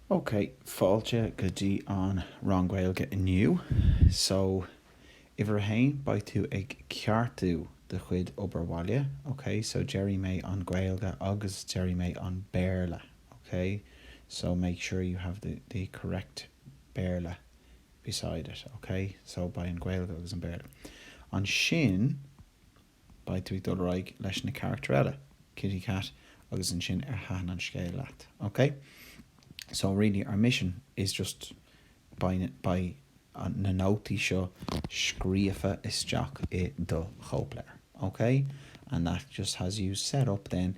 Ok, fáilte go dtí an rang Gaeilge inniu. So, uimhir a haon, beidh tú ag ceartú do chuid obair bhaile, ok? So déarfaidh mé an Ghaeilge agus déarfaidh mé an Béarla, ok? So make sure you have the the correct Béarla beside it, ok? So beidh an Ghaeilge agus an Béarla. Ansin. Beidh tú ag dul ar aghaidh leis na carachtair eile, Kitty Cat agus ansin ar thaitin an scéal leat, ok? So really our mission is just beidh na nótaí seo scríofa isteach i do chóipleabhar, ok? And that just has you set up then,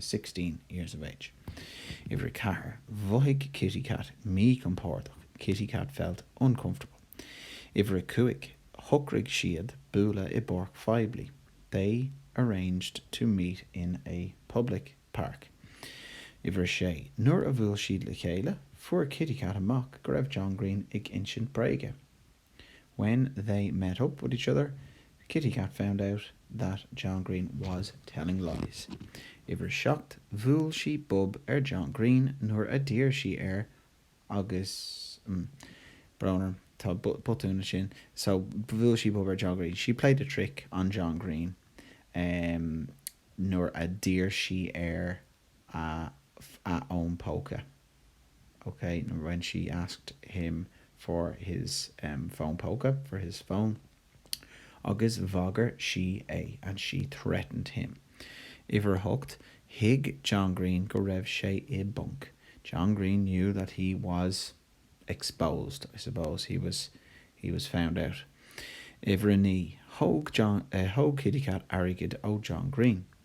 sixteen years of age'. Uimhir a ceathair, 'Mhothaigh Kitty Cat míchompordach', 'Kitty Cat felt uncomfortable'. Uimhir a cúig, 'Shocraigh siad bualadh i bpáirc phoiblí', 'They arranged to meet in a public park'. Uimhir a sé, 'Nuair a bhuail siad le chéile, fuair Kitty Cat amach go raibh John Green ag insint bréige'. When they met up with each other, Kitty Cat found out that John Green was telling lies. Uimhir a seacht, Bhuail sí bob ar John Green nuair a d'iarr sí air agus mm, brón orm, tá botún ansin so Bhuail sí bob ar John Green, she played a trick on John Green em nuair a d'iarr sí air a a fhón póca. OK, nó when she asked him for his phone póca, for his phone, agus bhagair sí é, and she threatened him. Uimhir 8, Thuig John Green go raibh sé i bponc. John Green knew that he was exposed, I suppose, he was he was found out. Uimhir 9, Thóg John, Thóg Kitty Cat airgead ó John Green.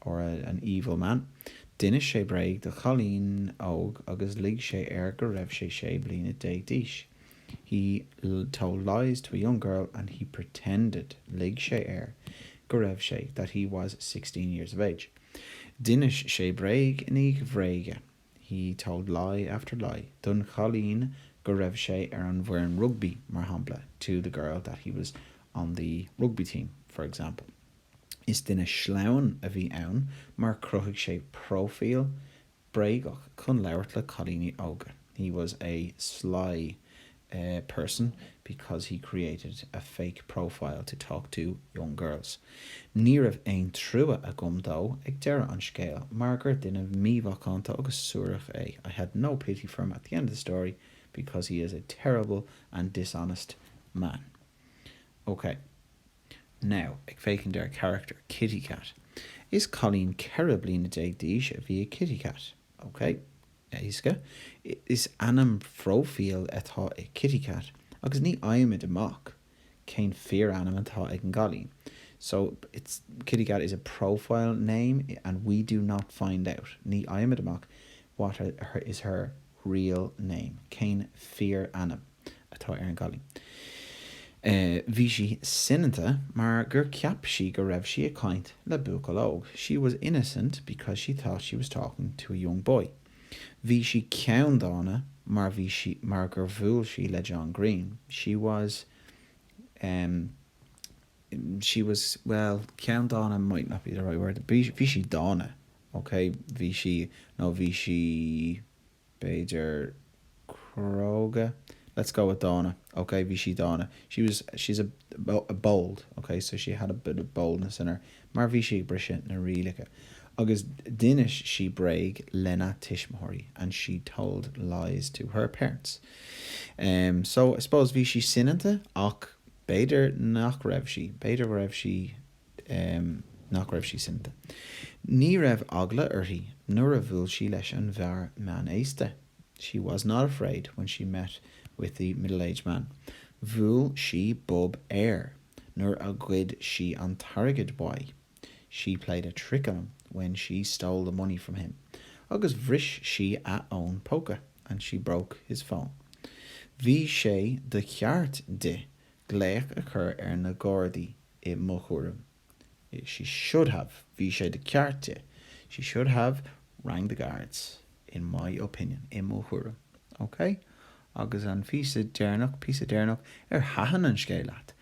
or an evil man. D'inis sé bréag do chailín óg agus lig sé air go raibh sé sé bliana déag d'aois, He told lies to a young girl and he pretended, lig sé air, go raibh sé, that he was, sixteen years of age. D'inis sé bréag i ndiaidh bhréige, He told lie after lie, don chailín go raibh sé ar an bhfoireann rugbaí, mar shampla, to the girl that he was on the rugby team, for example. Is duine sleamhain a bhí ann mar chruthaigh sé próifíl bréagach chun labhairt le cailíní óga, he was a sly person because he created a fake profile to talk to young girls. Ní raibh aon trua agam dó ag deireadh an scéil mar gur duine mímhacánta agus suarach é, I had no pity for him at the end of the story because he is a terrible and dishonest man. OK. Now, ag féachaint ar character Kitty Cat, is cailín ceithre bliana déag d'aois a bhí i Kitty Cat. Ok. Éasca. Is ainm phróifíl atá i Kitty Cat agus ní fhaighimid amach cén fíorainm atá ag an gcailín. So, it's, Kitty Cat is a profile name and we do not find out. Ní fhaighimid amach what is her real name? cén fíorainm atá ar an gcailín? Eh, bhí sí soineanta mar gur cheap sí go raibh sí ag caint le buachaill óg, she was innocent because she thought she was talking to a young boy. Bhí sí ceanndána mar bhí sí, mar gur bhuail sí le John Green, she was, em, she was, well, ceanndána might not be the right word, bhí sí dána, OK, bhí sí, nó bhí sí, b'fhéidir, cróga? Let's go with dána. OK, bhí sí dána. She's, she's a, a bold. OK, so she had a bit of boldness in her. Mar bhí sí ag briseadh na rialacha. Agus d'inis sí bréag lena tuismitheoirí. And she told lies to her parents. Em, so, I suppose, bhí sí soineanta ach b'fhéidir nach raibh sí, b'fhéidir go raibh sí em. nach raibh sí soineanta. Ní raibh eagla uirthi nuair a bhuail sí leis an bhfear meánaosta She was not afraid when she met with the middle-aged man. Bhuail sí bob air nuair a ghoid sí an t-airgead uaidh She played a trick on him when she stole the money from him. Agus bhris sí a fhón póca And she broke his phone. Bhí sé de cheart di glaoch a chur ar na Gardaí i mo thuairim, she should have bhí sé de cheart di, she should have rang the guards, in my opinion i mo thuairim. OK? Agus an phíosa deireanach, píosa deireanach, ar thaitin an scéal leat?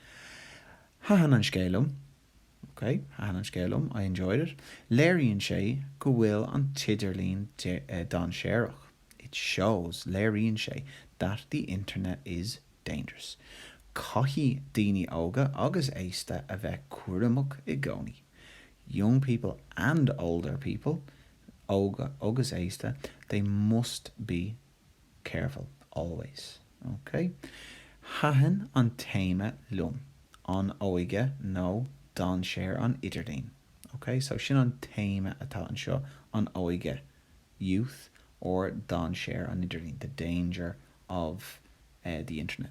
Thaitin an scéal liom. OK? Thaitin an scéal liom, I enjoyed it. Léiríonn sé go bhfuil an t-idirlíon dainséarach, it shows léiríonn sé that the internet is. dangerous. Caithfidh daoine óga agus aosta a bheith cúramach i gcónaí Young people and older people, óga agus aosta they must be careful, always. Ok? Thaitin an téama liom, an óige nó dainséar an idirlín. Ok? So sin an téama atá anseo, an óige, youth, or dainséar an idirlín, the danger of the Internet.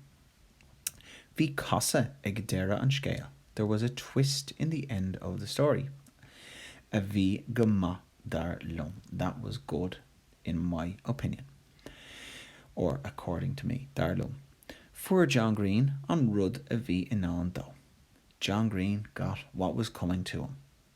Bhí casadh ag deireadh an scéil, there was a twist in the end of the story, a bhí go maith dar liom, that was good in my opinion, or according to me, dar liom. Fuair John Green an rud a bhí i ndán dó, John Green got what was coming to him.